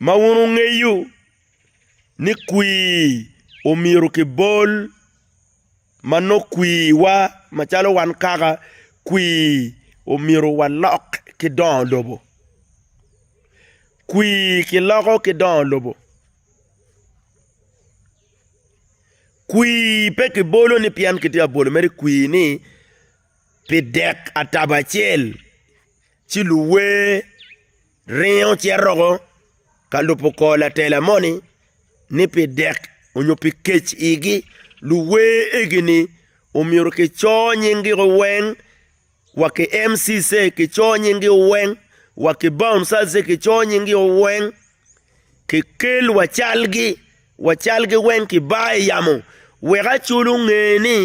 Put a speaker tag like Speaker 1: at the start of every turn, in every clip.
Speaker 1: ma wun wungeyo ni kwir omyero kibol ma nongo kwirwa macalo wan kaka kwir omyero walok ki dongo lobo. Kwir kiloko ki dongo lobo, kwir pe kibolo ni pien kitye ka bolo mere kwir ni pi dek atabo acel ci luwe. Ringo ci aroko ka lubo kor latela moni ni pi dek onyo pi kec igi, luwer egini omyero ki cor nying gi o weng wa ki MCC ki cor nying gi o weng wa ki bouncers ki cor nying gi o weng ki kel wa cal gi wa cal gi weng ki bar i yamo wek aculu nge ni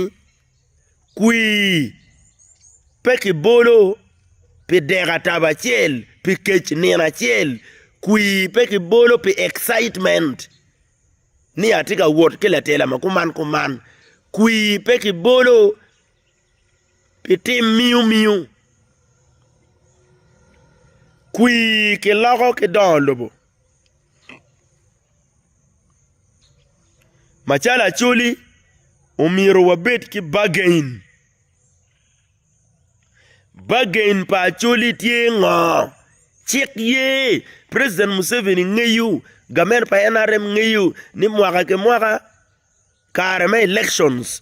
Speaker 1: kwii, pe kibolo pi dek atabo acel, pi kec nino acel, kwii pe kibolo pi excitement ni atye ka wot ki latela ma kuman kuman, kwii pe kibolo pi tim miu miu, kwii kiloko ki dongo lobo. Macalo Acholi, omyero wabed ki bagain. Bagain pa Acholi tye ngo? Cik ye, president Museveni ngeyo, gament pa NRM ngeyo ni mwaka ki mwaka kare me elections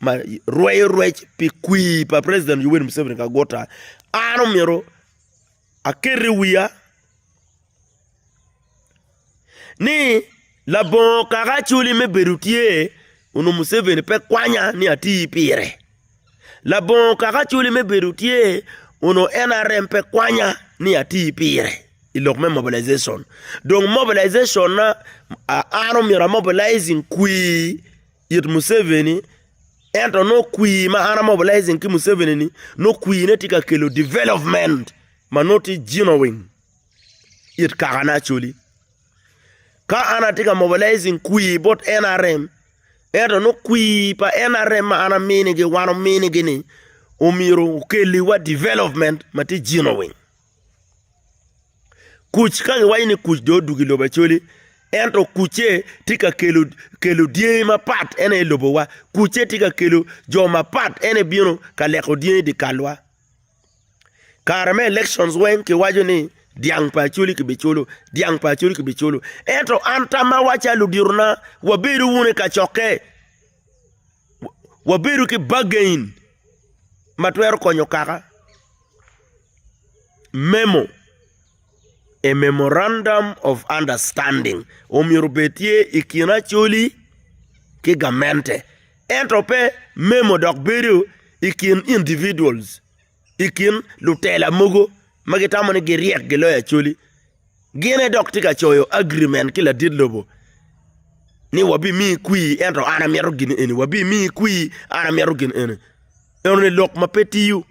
Speaker 1: ma rweyo rwec pi kwir pa president Yoweri Museveni Kaguta an omyero aket i wiya ni labongo kaka acwali me bedo tye onongo Museveni pe kwanya ni ati pire labongo kaka acwali me bedo tye onongo NRM pe kwanya ni ati pire i lok me mobilization dong mobilization na an omyero amobilizing kwir it Museveni ento nongo kwi ma an a mobilizing ki Museveni ni nongo kwi ne tye ka kelo development ma nongo tye genuine it kaka ne Acholi. Ka an atye ka mobilizing kwi bot NRM ento nongo kwi pa NRM ma an aminigi wan ominigi ni omyero okelliwa development ma tye genuine. Kuc ka giwaco ni kuc dong odwogo i lobo Acholi, ento kucce tye ka kelo dyangi mapat en aye lobowa, kucce tye ka kelo jo mapat en aye bino ka leko dyangi i dye kalwa. Kare me elections weng kiwaco ni dyang pa Acholi kibiculo, dyang pa Acholi kibiculo ento an tammawa calo luditona wabedo wunu i kacokke, wabedo ki bargain ma twero konyo kaka. Memo, A memorandum of understanding omyero obed tye i kin Acholi ki gamente ento pe memo dok bedo i kin individuals, i kin lutela mogo ma gitamo ni giryek giloyo Acholi. Gine dok tye ka coyo agreement ki ladit lobo ni wabimiyi kwir ento an amito gin eni, wabimiyi kwir an amito gin eni. Enoni lok ma pe tiyo.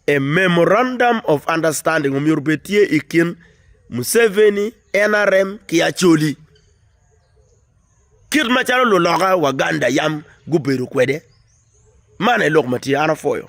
Speaker 1: A memorandum of understanding omyero obed tye i kin Museveni, NRM ki Acholi kit macalo luloka Waganda yam gubedo kwede. Man aye lok ma tye, an apwoyo.